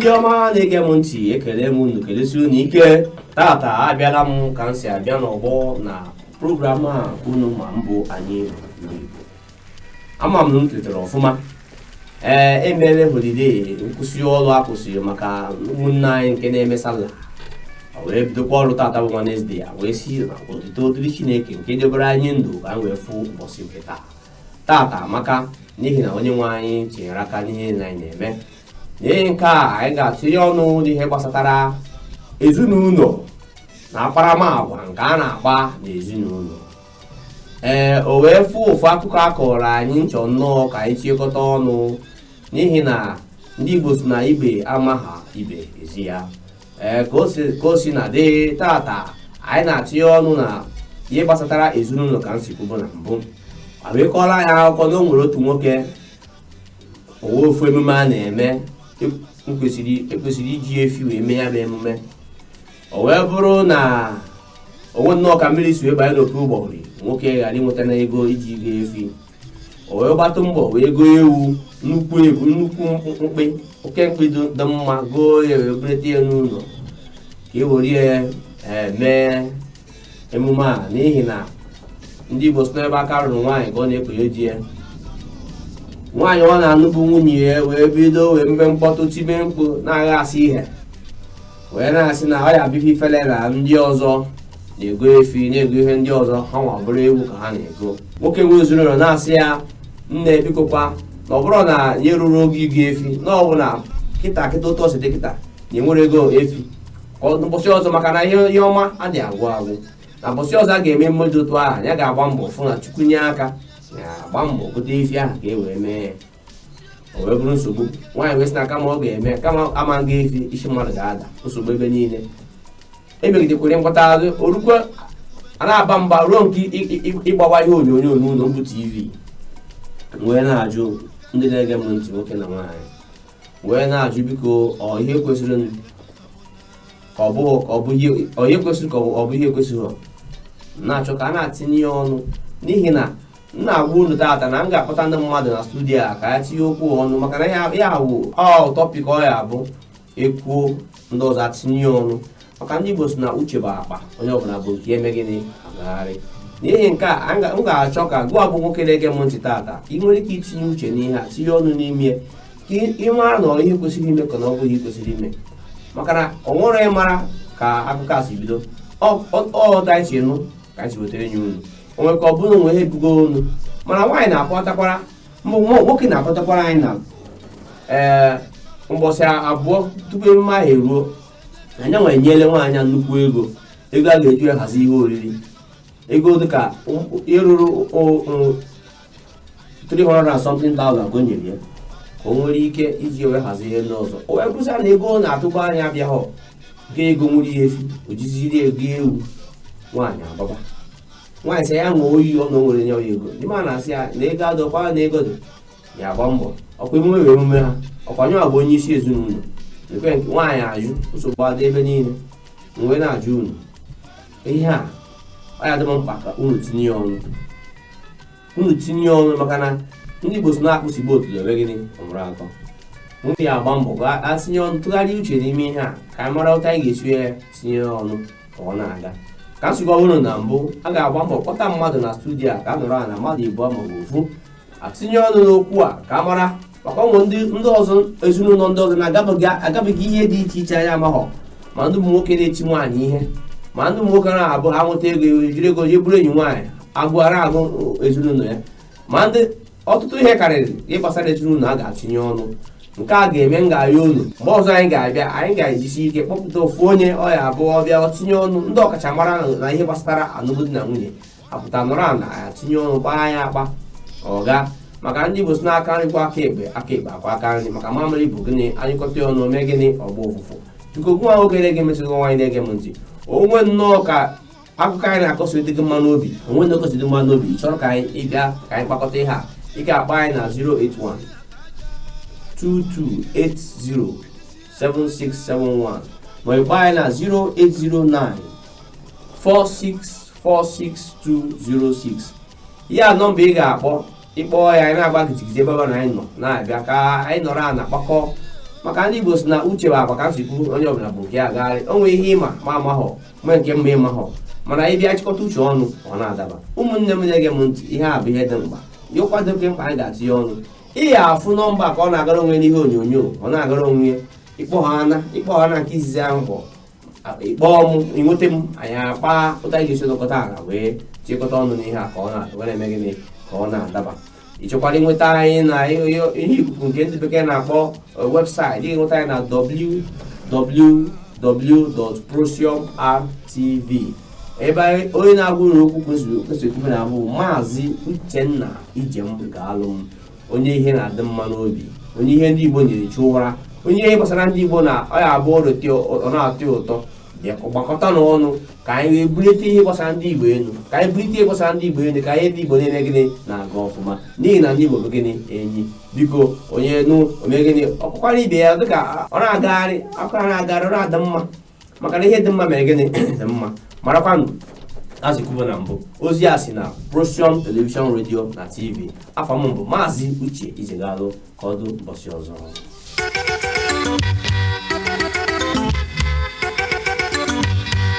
ndị ọma na-ege m ntị ekele m unu kelesi unu ike tata abịala m ka m si abịa n'ọgbọ na program a unu ma mbụ anyị bụ Igbo. ama m na unu tetara ọfụma ee e mere holide nkwụsị ọrụ a kwụsịrị maka ụmụnne anyị nke na-eme sala o wee bidokwa ọrụ tata bụ Wednesde a wee sị na otito dịrị Chineke nke debere anyị ndụ ka anyị wee fụ ụbọchị nke taa tata amaka n'ihi na onye nwe anyị tinyere aka n'ihe niile anyị na-eme n'ihi nke a anyị ga-atụnye ọnụ n'ihe gbasatara ezinụlọ na akparamagwa nke a na-akpa n'ezinụlọ ee o nwee ofu ofu akụkọ a kọrọ anyị m chọ nnọọ ka anyị tiekọta ọnụ n'ihi na ndị Igbo sị na ibe amaha ibe ezi ya ee ka o si- ka o sina dị tata anyị na-atụnye ọnụ na ihe gbasatara ezinụlọ ka m si kwubu na mbụ o wee kọọrọ anyị akụkọ na o nwere otu nwoke o nwee ofu emume a na-eme e kwesịrị e kwesịrị iji efi wee mee ya bụ emume o wee bụrụ na o nwee nnọọ ka mmiri si wee banye n'opi ụgbọghọrị nwoke ghara inweta na ego iji goo efi o wee gbatụ mbọ wee goo ewu nnukwu ewu nnukwu mkpi oke mkpi dị dị mma goo ya wee bureta ya n'ụlọ ka e were ya eh, mee emume a n'ihi na ndị Igbo sị na ebe aka ruru nwaanyị ka o na-ekonye di ya nwaanyị ọ na-anụ bụ nwunye ya wee bido wee mebe mkpọtụ tibe mkpu na-agha asị ihe wee na-asị na ọ ya-abụ ife ifele na ndị ọzọ na-ego efi na-ego ihe ndị ọzọ hanwa bụrụ ewu ka ha na-ego nwoke nwe ezinụlọ na-asị ya nne bikokwa na ọ bụrọ na ya erurọ ogo ịgo efi na ọ bụ na kịta kịta otu o si dị kịta na ya enwerọ ego efi ka ọ- ụbọchị ọzọ maka na ihe ihe ọma adịghị agwụ agwụ na ụbọchị ọzọ a ga-eme emume dị otu ahụ ya ga-agba mbọ fụ na Chukwu nye aka ya agba mbọ gote efi ahụ ka e wee mee ya o wee bụrụ nsogbu nwaanyị wee sị na kama ọ ga-eme kama a ma-ego efi isi mmadụ ga-ada nsogbu ebe niile emegidekwere mkpọta azụ orukwa a na-aba mba ruo nke ị- ị- ị- ịgbawa ihe onyonyo n'ụlọ mbụ tv m wee na-ajụ ndị na-ege m ntị nwoke na nwaanyị wee na-ajụ biko ọ ihe kwesịrị m ka ọ bụ ka ọ bụ ihe ọ ihe kwesịrị ka ọ bụ ọ bụ ihe ekwesịrọ m na-achọ ka a na-atinye ya ọnụ n'ihi na m na-agwa unu taata na m ga-akpọta ndị mmadụ na studio a ka anyị tinye okwu ọnụ maka na ya awụ ọ tọpik ọ ya-abụ e kwuo ndị ọzọ atinye ọnụ maka ndị Igbo sị na uche bụ akpa onye ọbụla bu nke ya eme gịnị agagharị n'ihi nke a m ga-achọ ka gị bụ nwoke na-ege m ntị taata ị nwere ike itinye uche n'ihe a tinye ọnụ n'ime ka ị mara na ihe kwesịrị ime ka na ọ bụghị kwesịrị ime maka na o nwere ịmara ka akụkọ a si bido ọ ọta isi nụ ka anyị si weta ya nye unu onwe ka ọ bụrụ o nwee ihe bugo olu mana nwaanyị na-akpọtakwara m bụ nwa- nwoke na-akpọtakwara anyị na ee mbọsị abụọ tupu emume ahụ eruo na ya wee nyele nwaanyị a nnukwu ego ego a ga-eji wee hazi ihe oriri ego dịka um, ihe ruru o- o- 300 and something thousand ka o nyere ya ka o nwere ike iji wee hazie ihe ndị ọzọ o wee kwusịa na ego ọ na-atụkwa anya abịaghọ ga ego nwere ihe efu o jiziri ego ewu nwaanyị agbaba nwaanyị sị ya ṅụọ oyi ọ na o nwere nye ya ego ndị ma na-asị ya na ego adọkwa na ego dị ya agba mbọ ọkwa emume wee emume ha ọkwa ya bụ onye isi ezinụlọ ekwe nke nwaanyị ajụ nsogbu adị ebe niile m wee na-ajụ unu ihe a ọ ya dị m mkpa ka unu tinye ọnụ unu tinye ọnụ maka na ndị Igbo sị na akpụsigbu otuto ebe gịnị ọmụrụ akọ anyị ya agba mbọ ka a tinye ọnụ tụgharịa uche n'ime ihe a ka anyị mara otu anyị ga-esi ya tinye ọnụ ka ọ na-aga ka nsogbu ọhụrụ na mbụ a ga-agba mbọ kpọta mmadụ na studio a ka a nọrọ ala mmadụ ịbụọ maọbụ ofu a tinye ọnụ n'okwu a ka a mara maka o nwee ndị ọzọ ezinụlọ ndị ọzọ na-agabiga ihe dị iche iche anyị amaghọ ma ndị ụmụ nwoke na-eti nwaanyị ihe ma ndị ụmụ nwoke na-abụ ha nweta ego ejiri ego jee buru enyi nwaanyị agụụ ana-agụ ezinụlọ ya ma ndị ọtụtụ ihe karịrị ihe gbasara ezinụlọ a ga-atinye ọnụ nke a ga-eme m ga-arịọ unu mgbe ọzọ anyị ga-abịa anyị ga-ejisi ike kpọpụta ofu onye ọ ya abụ ọ bịa tinye ọnụ ndị ọkachamara na ihe gbasara alụmdi na nwunye apụta nọrọ ala ya tinye ọnụ kpaa ya akpa ọ gaa maka ndị igbo sị na aka nri kwọọ aka ekpe aka ekpe akwọọ aka nri maka mamịrị bụ gịnị a nyụkọta ya ọnụ mee gịnị ọ gbaa ụfụfụ biko gịwa nwoke na-ege m ntị nwaanyị na-ege m ntị o nwee nnọọ ka akụkọ anyị na-akọ si dị gị mma n'obi o nwee ndị ọkọsi dị mma n'obi ị chọrọ ka anyị bịa ka anyị kpakọta ihe a ị ga-akpọ anyị na 081 2280 7671 ma ị kpọọ anyị na 0809 46 46206 ya nọmba ị ga-akpọ ị kpọọ ya anyị na-agba gidigidi ebe ọbụla anyị nọ na-abịa ka anyị nọrọ ala kpakọọ maka ndị Igbo sị na uche bụ akpa ka m si kwuo onye ọbụla bu nke ya agagharị o nwee ihe ị ma m amahọ ma nke m ma ị mahọ mana anyị bịa chịkọta uche ọnụ ọ na-adaba ụmụnne m na-ege m ntị ihe a bụ ihe dị mkpa ihe ụkwado oke mkpa anyị ga-atinye ọnụ ị ya afụ nọmba ka ọ na-agara onwe n'ihe onyonyo ọ na-agara onwe ya ị kpọọ ha ana ị kpọọ ha na nke izizi ahụ kpọ ị kpọọ m i nweta m anyị akpaa otu anyị ga-esi nọkọta ala wee chịkọta ọnụ n'ihe a ka ọ na-adaba wee na-eme gịnị ka ọ na-adaba ị chọkwara inweta anyị na ihe ikuku nke ndị bekee na-akpọ website ị ga-enweta anyị na www.prosiumrtv ebe onye na-agwa unu okwu kwesịrị ekwesịrị ekwume na-abụ maazị uchenna ijem ga-alụ m onye ihe na-adị mma n'obi onye ihe ndị igbo na-echu ụra onye ihe gbasara ndị igbo na ọ ya abụ ọrụ tị- ọ na-atọ ya ụtọ bịa gbakọta n'ọnụ ka anyị wee bulite ihe gbasara ndị igbo elu ka anyị bulite ihe gbasara ndị igbo elu ka ihe ndị igbo niile gịnị na-aga ọfụma n'ihi na ndị igbo bụ gịnị enyi biko onye nụ o mee gịnị ọ kọkwaara ibe ya dịka ọ na-agagharị akụkọ na-agagharị ọ na-adị mma maka na ihe dị mma mere gịnị dị mma marakwanụ eziokwu bụ na mbụ ozi a si na Procium Television Radio na TV afa m bụ maazị Uche Ijegalụ ka ọ dụ mbọsị ọzọ